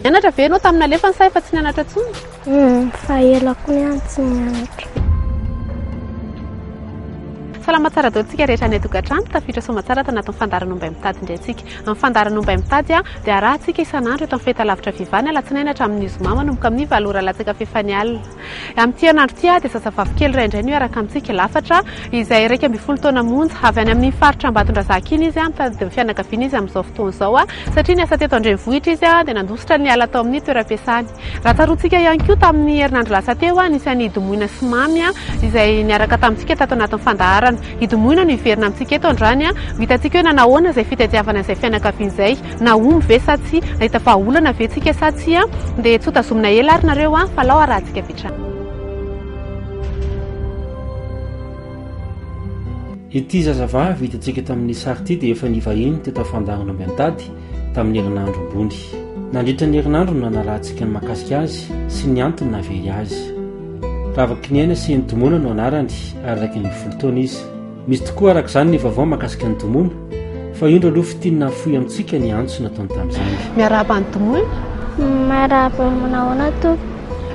Nianatra ve ianao tamin'ny nalefany sa efa tsy nianatra intsony? Humm, fa ela koa ihany tsy nianatra. Salama tsara daholo tsika rehetra any an-tokantrano, tafiditra soamatsara ato anatin'ny fandaharan'ny Ombay Mitady indray tsika. Amin'ny fandaharan'ny Ombay Mitady dia arahantsika isan'andro eto amin'ny fahitalavitra Viva ny alatsinainy hatramin'ny zoma manomboka amin'ny valo ora latsaka fahefany alina. Amin'ity herinandro ity dia zazavavy kely iray indray no hiaraka amintsika lafatra, izay iraika ambin'ny folo taona monja. Avy any amin'iny faritra Ambatondrazaka iny izy, mitady ny fianakaviany izy amin'izao fotoana izao. Satria niasa teto an-drenivohitra izy, dia nandositra niala tao amin'ny toeram-piasany. Raha tsaroantsika ihany koa, tamin'ny herinandro lasa teo, nisy an'i Idy Moina sy Mamy, izay niaraka tamintsika tato anatin'ny fandaharana. Idy Moina no hiverina amintsika eto androany. Ho hitantsika hoe nanao ahoana izay fitadiavana izay fianakaviana izay. Nahomby ve sa tsia? Nahita vahaolana ve tsika sa tsia? Dia tsy ho tazomina ela ary nareo an! Fa alao harahantsika avy hatrany. Ity zazavavy hitantsika tamin'ny sary ity dia efa nivahiny teto Afandaharana Miantady tamin'ny herinandro ambony. Nandritra ny herinandro no nanarahantsika ny mahakasika azy sy ny antony nahavery azy. Ravakinihana sy Henidimona no anarany ary iraika ambin'ny folo taona izy. Misy tokoa araka izany ny vaovao mahakasika ny Domoina, fa indro aloha fintinina hafoy amintsika ny antso nataony tamin'izany. Miarahaba ny Domoina. Miarahaba, manao ahoana Tompo?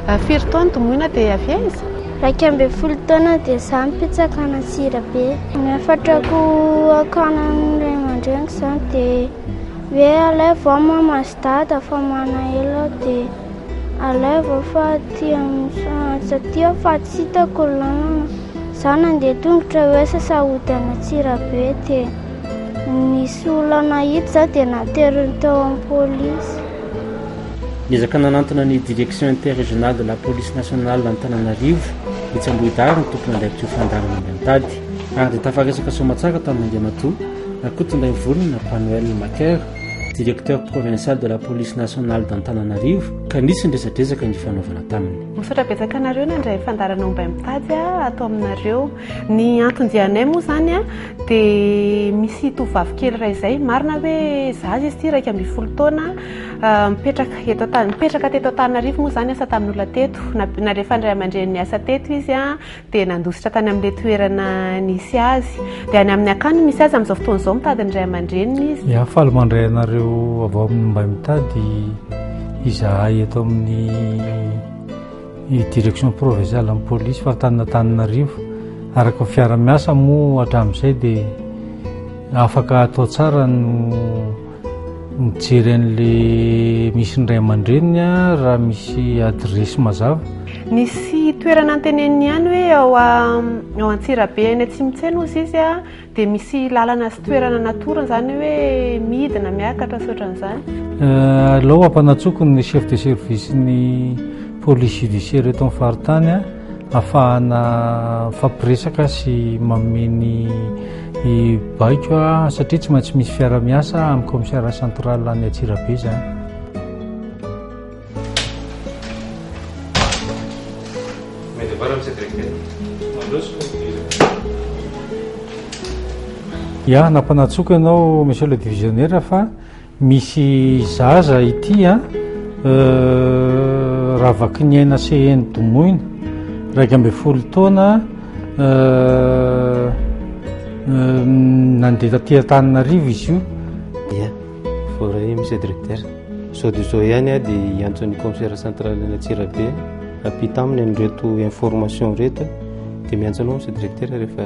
Ah, firy taona Domoina dia avy aiza? Iraika ambin'ny folo taona dia izaho mipitsaka any Antsirabe. Ny hafatrako hakana ny ray aman-dreniko izany dia hoe alaivo aho maman. Dada fa manahelo aho dia alaivo fa aty amin'ny saha satria aho fa tsy hitako ny lalana. Za nandeha tongotra hoe sasa hody any Antsirabe dia nisy olana hita za dia nateriny tao amin'ny polisy. Niezaka nanantona ny Direction Interrégionale de la Police Nationale Antananarivo etsy Ambohidahary ny tompon'andraikitra io fandaharana indray mitady ary dia tafaresaka soamantsara tamin'Andriamatoa Rakotondraivolona Panoel Maker directeur provincial de la police nationale d'Antananarivo ka nisy ny resadresaka nifanaovana taminy. Misaotra betsaka anareo nandray fandarana Ombay mitady ato aminareo. Ny anton-dianay moa izany dia misy tovovavy kely iray izay, marina hoe zaza izy ity iraika ambin'ny folo taona, ah, mipetraka eto mipetraka teto Antananarivo moa izany asa tamin'ny olona teto, nalefan'ny ray aman-dreniny asa teto izy. dia nandositra tany amin'ilay toerana nisy azy. Dia any amin'ny akany misy azy amin'izao fotoana izao mitady ny ray aman-dreniny izy. Dia hafaly mandray anareo avy ao amin'ny mba mitady izahay eto amin'ny direction provinciale amin'ny polisy faritany Antananarivo. Araka ny fiara-miasa moa hatramin'izay dia afaka atao tsara no Mijery an'ilay misy ny ray aman-dreniny aho raha misy adiresy mazava. Nisy toerana anteneniny ihany hoe ao ao Antsirabe any Atsimontsena ozy izy a, dia misy lalana sy toerana natorony izany hoe midina, miakatra sy ohatran'izany. Aleo ampanatsoiko ny chef de service ny police judiciaire eto amin'ny faritany a. Afahana mifampiresaka sy manome ny baiko satria tsy maintsy misy fiara-miasa amin'ny kaomisariat central any Antsirabe izany. Ya, nampanatsoako ianao Monsieur le Divisionnaire fa Misy zaza ity a euh, Ravakiniaina Seheno Domoina iraika ambin'ny folo taona euh, euh, nandeha taty Antananarivo izy io dia voaray misy directeur sao de zao ihany a dia hiantson'ny commissaire central any Antsirabe apita aminy an'ireto information reto dia miantso anao misy directeur rehefa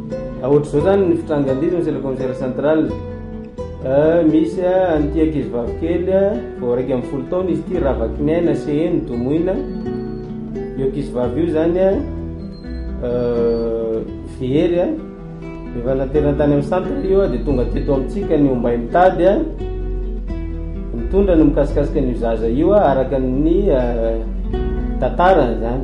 Ohatr'izao zany ny fitrangan-didy misy le commissaire central. Misy an'ity ankizy vavy kely vao iraika ambin'ny folo taona izy ity Ravakiniaina Seheno Domoina. Io ankizy vavy io zany very rehefa naterana tany amin'ny centre io dia tonga teto amintsika ny ombay mitady nitondra ny mikasikasika ny zaza io araka ny tantarany zany.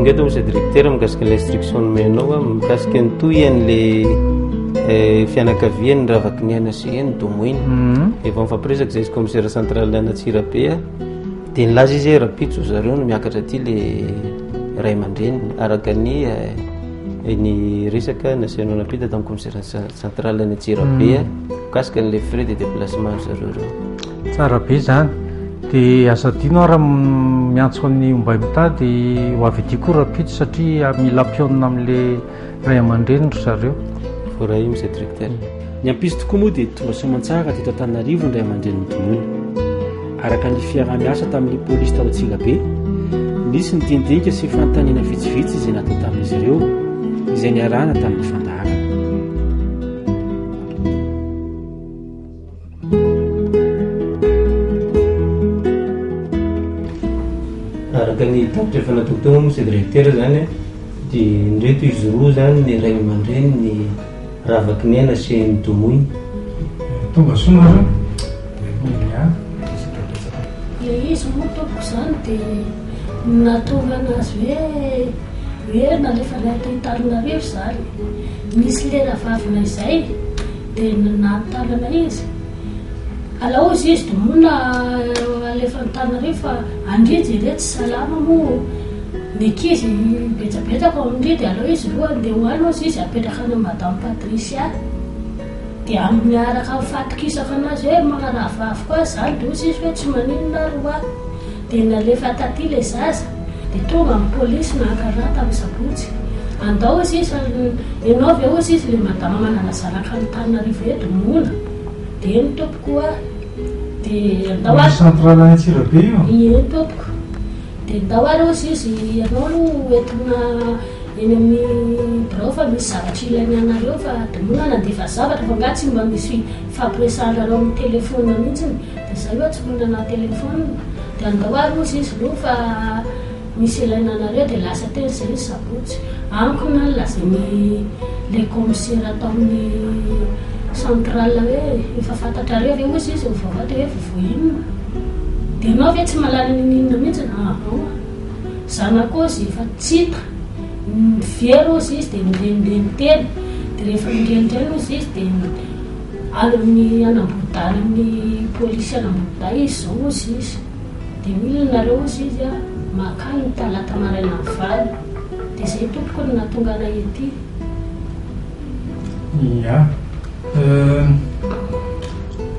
Ingato Monsieur Directeur mikasika ilay instruction nomenao a, mikasika ny tohin'le eh, fianakavian'ny Ravakiniaina sy eny Domoina. Mhm. Efa mifampiresaka izay izy commissaire central Anatsirabe a, dia nilaza izy hoe rapitso zareo no miakatra aty le ray aman-dreniny araka ny eh, ny resaka naseho nampita tamin'ny commissaire ce- central Anatsirabe a. Mikasika an'ilay frais de déplacement ry zareo ireo. Tsara be izany. Dia aza adino ary miantso an'i Ombay mitady ho avy aty koa rapito satria mila ampionona amin'ilay ray aman-dreny ry zareo. Voaray Monsieur Directeur. Ny ampisy tokoa moa dia tonga soamantsara teto Antananarivo ny ray aman-dreny nodimona. Araka ny fiaraha-miasa tamin'ny polisy tao Antsirabe, nisy ny diandinika sy fanontaniana vitsivitsy izay natao tamin'izy ireo, izay niarahana tamin'ny fandaharana. Araka ny tatitra efa natao teo Monsieur le Recteur izany dia indreto izy roa izany ny ray aman-dreny ny Ravakinena sy Ndomoy. Tonga soa nareo. Ilay izy moa tompoko izany dia nahatonga anazy hoe hoe nalefa any Antananarivo izany. Nisy lena vavina izay dia nanontany anay izy, alao izy izy domoina alefa Antananarivo fa andria jereo tsy salama moa ny ankizy betsabetsaka ao andria dia alao izy aloha andeha ho any hozy izy apetraka any amin'i Madame Patricia dia amin'ny araka ny fahatokisako anazy hoe magnaraha vaviko azy izany dia hozy izy hoe tsy maninona ary ho'aho. Dia nalefa taty ilay zaza, dia tonga ny polisy naka ra tamin'ny sabotsy. Andao hozy izy fa ianao ve hozy izy ilay madama nanazaraka an'Antananarivo eto, moana? Dia eny tompoko ho'a. Dia andao ary. Ny centre Alain Antsirabe io? Eny tompoko. Dia andao ary hozy izy ianao aloha ho entina eny amin'ny birao fa misy zavatra ilainy anareo fa de moana nandefa zavatra fa nga tsy mba misy hifampiresahanareo amin'ny telephone mihitsiny? Dia izay hoe tsy manana téléphone, dia andao ary ozy izy roa fa misy ilaina anareo, dia lasa teo izay izy sabotsy, ankony no nolazain'i le kaomisera tao amin'ny central hoe efa fantatrareo ve ozy izy ny vaovao, dia hoe vaovao inona, dia ianao ve tsy mahalala inona inona mihintsy, ahh zanako ozy efa tsy hita, very ozy izy dia ny reniny telo, dia rehefa ny reniny indray ozy izy dia. Ary ny any Ambohidahy ny polisy any Ambohidahy izy zao ozy izy de milona nareo ozy izy a makany ny talata maraina am valo de zay tompoko no natonga anay ety. Ia.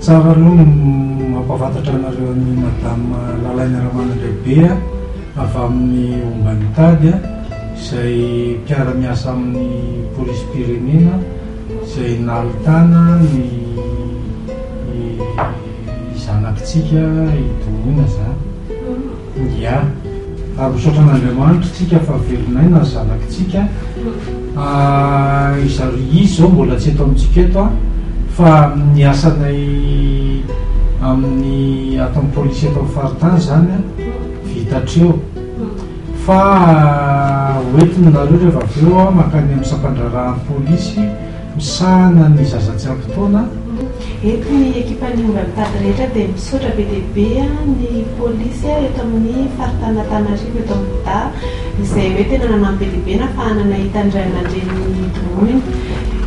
Tsara aloha ny mampahafantatra anareo an'i Madame Lalaina Ramanandraibe avy amin'ny omban'ny tady izay mpiara-miasa amin'ny polisim-pirenena. izay nahitana ny zanakitsika hidoroana izany. Ia. Ary misaotra an'Andriamanitra tsika fa velon'aina ny zanakitsika. Izy izao mbola tsy eto amintsika eto an, fa amin'ny asanay amin'ny aton'ny polisy eto amin'ny faritany izany an, vita hatreo. Fa hoentina nareo rehefa avy eo aho mankany amin'ny sampandraharahan'ny polisy misahana ny zaza tsy ampy taona. Eto ny ekipan'ny omby mitady rehetra dia misaotra be dia be ny polisy eto amin'ny faritan'Antananarivo eto amin'ny Bda izay hoe tena nanampy be dia be nahafahana nahita ny ray aman-drenin'ny droniny.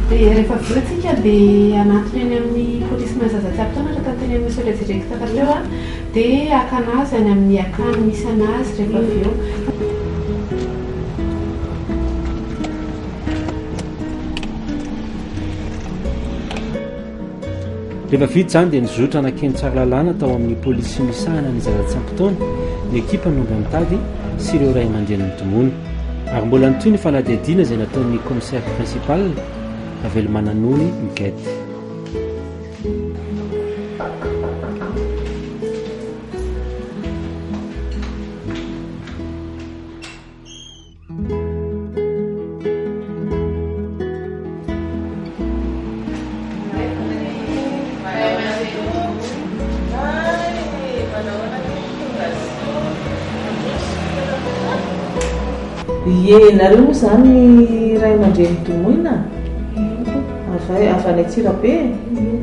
Dia rehefa avy eo tsika dia hanatona eny amin'ny polisin'ny zaza tsy ampy taona raha tanterahin'ny Monsieur le Directeur teo. Dia akana azy any amin'ny akany misy an'azy rehefa avy eo. Rehefa vita izany dia nizotra nankeny Tsaralalàna tao amin'ny polisy misahana ny zaza tsy ampy taona ny ekipa nondro ny tady sy ireo ray aman-drenin'ny tomony. Ary mbola nitohy ny fanadihadiana izay nataon'ny commissaire principal, Ravelomananony Miguette. Ie nareo moa zany ray aman-dreny domoina? Avy avy any Antsirabe e!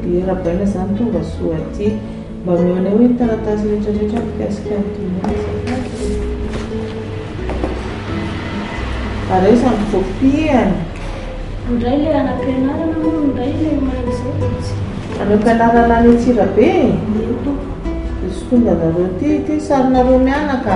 Dia rabaina zany tonga soa aty. Mba omeo anay hoe ny taratasy rehetra rehetra mikasika ny Kenya azafady e! Ary aiza ny kopiany? Indray ilay anam-pianarana moa no indray ilay omaly izao dia tsy vita. Anam-pianarana any Antsirabe e? Eny tompoko. Dia sotonganareo ity, ity sarinareo mianaka.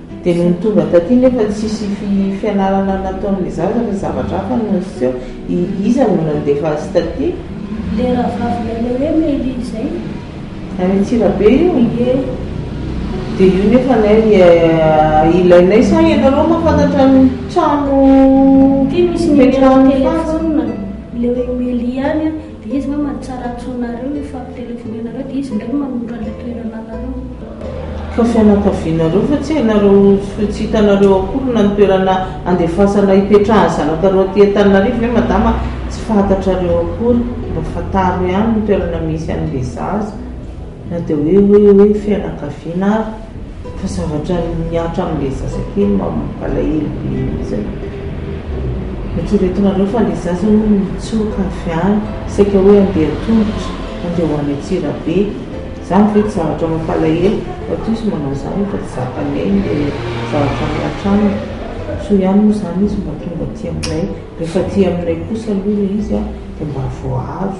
Dia nony tonga taty nefa tsisy fianarana nataon'ny zaza fa zavatra hafa no niseho, iza no nandefa azy taty? Le rahavavinay le hoe Meilly zay. Any Antsirabe io? Ie. Dia io nefa anay ilainay sa ianareo mahafantatra ny trano ipetrahan'ny patsa? Ty misy numéro telefona le hoe Meilly ihany an! Dia izy ve manitsara antsonareo ilay fampitelefoneanareo dia izy indray no manonitra an'ilay toerana anareo? Fa fianakavianareo fa tsy hainareo sy tsy hitanareo akory na ny toerana andefasana hipetrahan'ny zanakareo aty Antananarivo ve madama a? Tsy fantatrareo akory, mba fantaro ihany ny toerana misy an'ilay zaza. Na dia hoe hoe hoe fianakaviana ary fa zavatra mihatra amin'ilay zaza kely mampalahelo be iny izay. Eritreretinareo fa ilay zaza hono mitsoka avy any saika hoe handeha an-tongotra, handeha ho any Antsirabe. Izany ve tsy zavatra mampalahelo? Matoa izy manao izany efa tsy zakan'ny ainy ilay zavatra mihatra aminy. Soa ihany moa izany izy mba tonga aty aminay. Rehefa aty aminay kosa aloha ilay izy dia mba voaaro.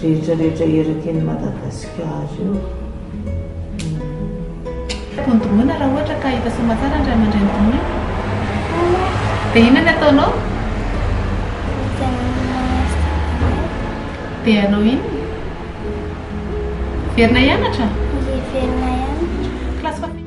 rehetra rehetra eraky ny Madagasikara io. Tokony domoina raha ohatra ka efa soma tsara ny ray aman-dreny domoina. Dia inona ny ataonao? Dia hanao inona? Hiverina hianatra? Hiverina hianatra. Classe famille.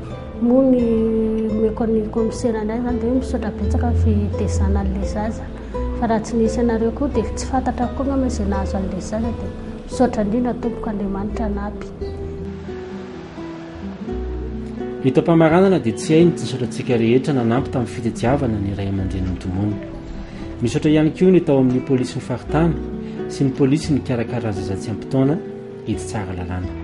Moa ny omeko an'ny kaomisera indray izany dia misaotra betsaka fitezana an'ilay zaza. Fa raha tsy nisy anareo koa dia tsy fantatra koa angamba izay nahazo an'ilay zaza dia misaotra indrindra tompoko Andriamanitra hanampy. Ny taom-pamaranana dia tsy hay ny tisotra antsika rehetra nanampy tamin'ny fitadiavana ny ray aman-dreny nodomoina. Misaotra ihany koa ny tao amin'ny polisin'ny faritany sy ny polisy nikarakara ny zaza tsy ampy taona etsy Tsaralalàna.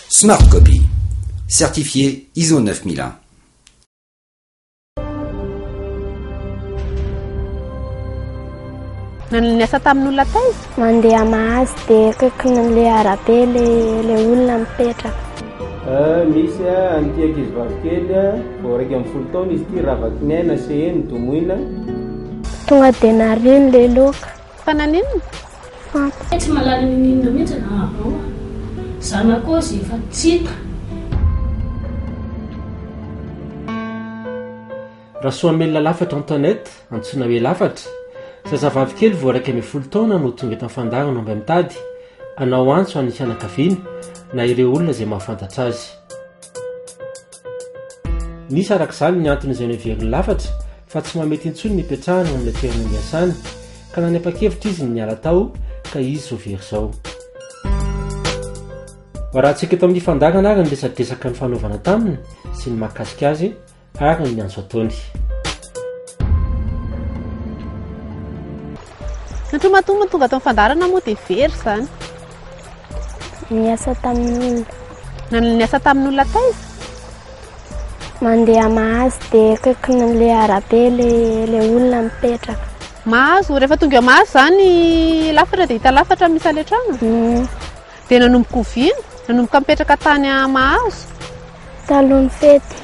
Smart Copy, Certifié ISO 9001. Nanana ny asa tamin'olona taiza? Mandeha mahazo dia akaikin'ilay arabe ilay olona mipetraka. Ah, misy ah, an'ity ankizy vavikely ah, vao iraika ambin'ny folo taona izy ity, Ravakiniaina Céhé, nodomoina. Tonga dia nariany ilay loka. Fa naninona? Fa tsy mahalala ny ninona mihitsy ny vaovao a! Zanako aza efa tsy hita! Rasoamelina Lafatra Antoinette, antsoina hoe Lafatra, zazavavy kely vao iraika ambin'ny folo taona no tonga eto Anfandarana mba mitady hanao antso an'ny fianakaviany na ireo olona izay mahafantatra azy. Misy araka izany ny antony izay noheverin'ny lafatra fa tsy mahamety intsony ny hipetrahany eo amin'ilay toerana niasany, ka nanapa-kevitra izy ny niala tao ka izy ho very izao. Varahantsika eto amin'ny fandaharana ary ny resadresaka nifanaovana taminy sy ny mahakasika azy ary ny antso ataony. Satria matoa tonga tao amin'ny fandaharana moa dia very izany. Niasa tamin'olona. Niasa tamin'olona taiza? Mandeha mahazo dia akaikin'ilay arabe ilay olona mipetraka. Mahazo, rehefa tonga mahazo izany lafatra dia hita lafatra misy ilay trano? Mm. Dia nanomboka oviana? Nanomboka mipetraka tany mahazo? Talohan'ny fety.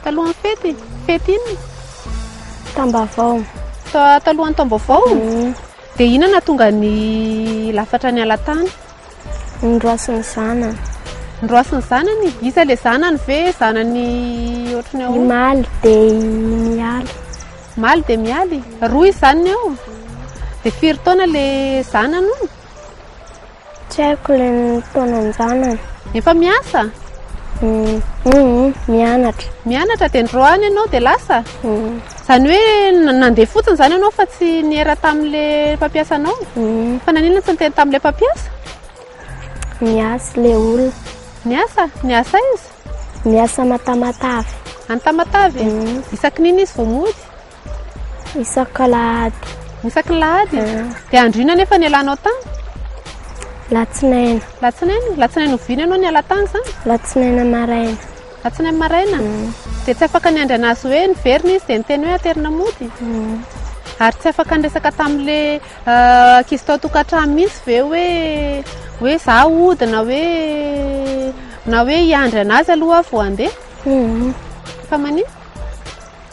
Talohan'ny fety? Fety inona? Tambavao. Talohan'ny tambavao? Mm. Dia inona no hahatonga ny lafatra ny ala tany? Ny roaso ny zanany. Ny roaso ny zanany? Iza ilay zanany ve? Zanany ohatry ny ahoana? Ny maly dia i mialy. Maly dia mialy? Roa izy zanany ao? Dia firy taona ilay zanany? Tsy haiko le taonan-janany. Efa miasa? Humm mianatra. Mianatra dia nirao any ianao dia lasa? Izany hoe nandeha fotsiny izany ianao fa tsy niera tamin'ilay mpampiasa anao? Fa naninona tsy niteny tamin'ilay mpampiasa? Niasa ilay olona. Niasa? Niasa aiza? Niasa any Tamatave. Any Tamatave? Isaky n'inona izy vao mody? Isak'alahady. Isak'alahady? Dia andro inona anefa ny alanao tany? Latsinaina. Latsinaina? Latsinaina oviana ianao ny ala tany izany? Latsinaina maraina. Latsinaina maraina? Mm. Dia tsy afaka ny andry anazy hoe niverina izy dia niteny hoe aterina mody? Mm. Ary tsy afaka niresaka tamin'ilay euh, ankizy tao tokantrano mihitsy ve hoe hoe za ody na hoe na hoe hiandry anazy aloha vao handeha? Mm. Fa maninona?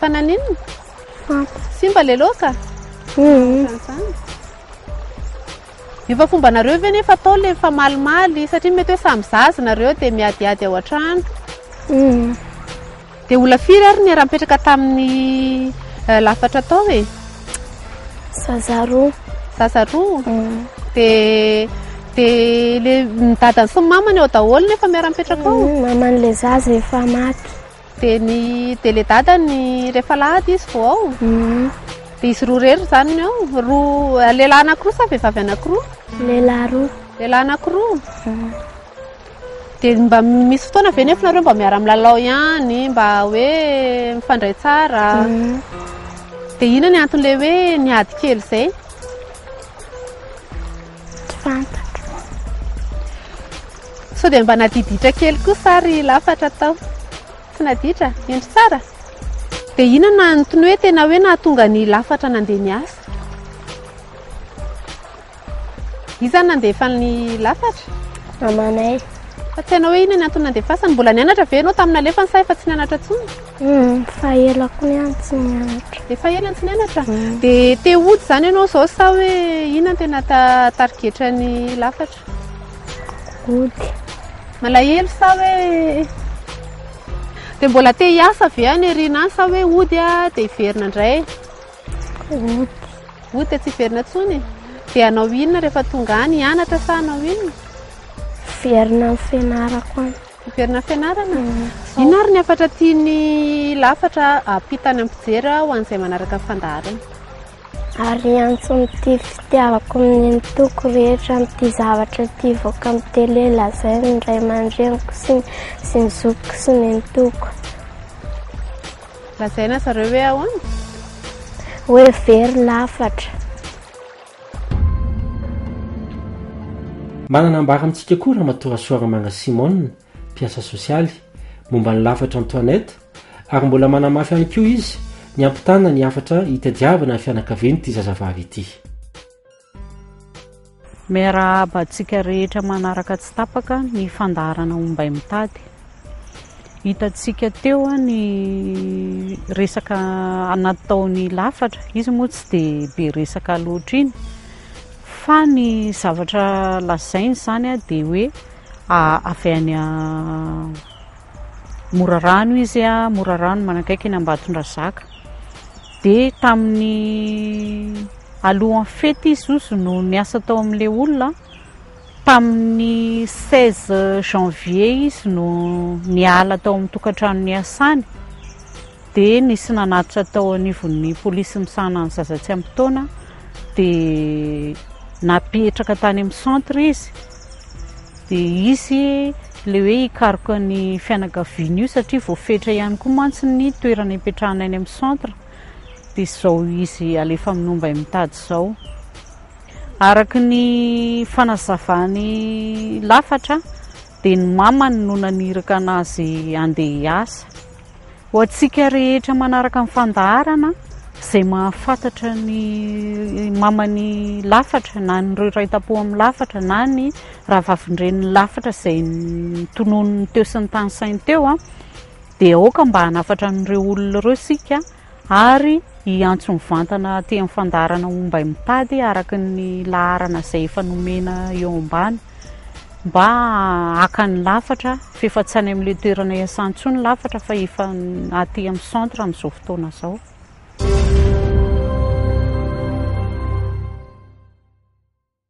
Fa naninona? Simba le loka? Efa fomba nareo ve nefa atao le famalimaly satria mety hoe samy zaza nareo dia miadiady ao an-trano. Dia ola firy ary ny raha-mipetraka tamin'ny eh, lafatra atao e? Zaza roa. Zaza roa? Dia dia le ny dadany sy ny mamany ao daholo nefa miara-mipetraka ao? Maman'ilay zaza efa maty. Dia ny deledadany rehefa lahady izy vao ao. Dia izy roa irery izany no ao. Roa lehilahy anankiroa sa vehivavy anankiroa? Lehilahy roa. Lehilahy anankiroa. Dia mba misy fotoana ve nefa nareo mba miara-milalao ihany, mba hoe mifandray tsara? Dia inona ny anton'ilay hoe niady kely izay? Tsy fantatro. Sao dia mba nadiditra kely koa sa ry lafatra tao? Tsy naditra? Indry tsara? Dia inona no tny hoe tena hoe nahatonga an'i lafatra nandeha niasa? Iza no nandefa an'i lafatra? Mamanay. Fa tsy hainao hoe inona ny antony nandefasany? Mbola nianatra ve ianao tamin'ny nalefany sa efa tsy nianatra intsony? Efa ela koa ihany tsy nianatra. Efa ela tsy nianatra? Dia te hody izany ianao izao sa hoe inona tena tarigetra ny lafatra? Hody. Malahelo sa hoe dia mbola te hiasa ve any aoriana any sa hoe hody aho dia hiverina indray? Hody. Hody dia tsy hiverina intsony? Dia hanao inona rehefa tonga any? Hianatra sa hanao inona? Hiverina amin'ny fianarako any. Miverina am-pianarana. Inona ary ny hafatra tian'ny lafatra ampita any am-pijery ho an'izay manaraka ny fandaharana? Ary hiantso amin'ity fitiavako amin'ny mitoko rehetra amin'ity zavatra ity hivoaka amin'ny tele lazainy ny ray aman-dreniko sy ny sy ny zokiko sy ny nitoko. Lazaina zareo hoe ahoana? Hoe very lafatra. Manana ambara amintsika koa Ramatoa Rasoaramanga Simon, mpiasa sosialy, momba ny lafatra Antoinette ary mbola manamafy ihany koa izy ny hampitana ny hafatra hitadiavana ny fianakavian'ity zazavavy ity. Miarahaba antsika rehetra manaraka tsy tapaka ny fandaharana Ombay mitady. Hitantsika teo ny resaka anaty taon'ny lafatra, izy moa tsy dia be resaka loatra iny fa ny zavatra lazainy izany dia hoe avy any Morarano izy, Morarano manakaiky an'i Ambatondrazaka, dia tamin'ny alohan'ny fety izy no niasa tao amin'ilay olona. Tamin'ny seize janvier izy no niala tao amin'ny tokantrano niasany dia nisy nanatitra tao anivon'ny polisy misahana ny zaza tsy ampy taona dia napetraka tany amin'ny centre izy dia hisy ilay hoe hikaroka ny fianakaviany io satria voafetra ihany koa mantsy ny toerana ipetrahana any amin'ny centre dia izao izy alefa amin'ny ombainy mitady izao. Araka ny fanazavan'i Lafatra dia ny mamany no naniraka anazy handeha hiasa. Ho antsika rehetra manaraka ny fandaharana, izay mahafantatra ny maman'i Lafatra na ny Raitapo amin'i Lafatra na ny rahavavin-drenin'i Lafatra izay notononin'ny teo sy ny tany sainy teo dia aoka mba hanafatra an'ireo olona ireo isika ary hiantso mivantana aty amin'ny fandaharana Ombay mitady araka ny laharana izay efa nomena eo ambany mba haka ny lafatra f'efa tsy any amin'ilay toerana iasany intsony ny lafatra fa efa aty amin'ny centre amin'izao fotoana izao.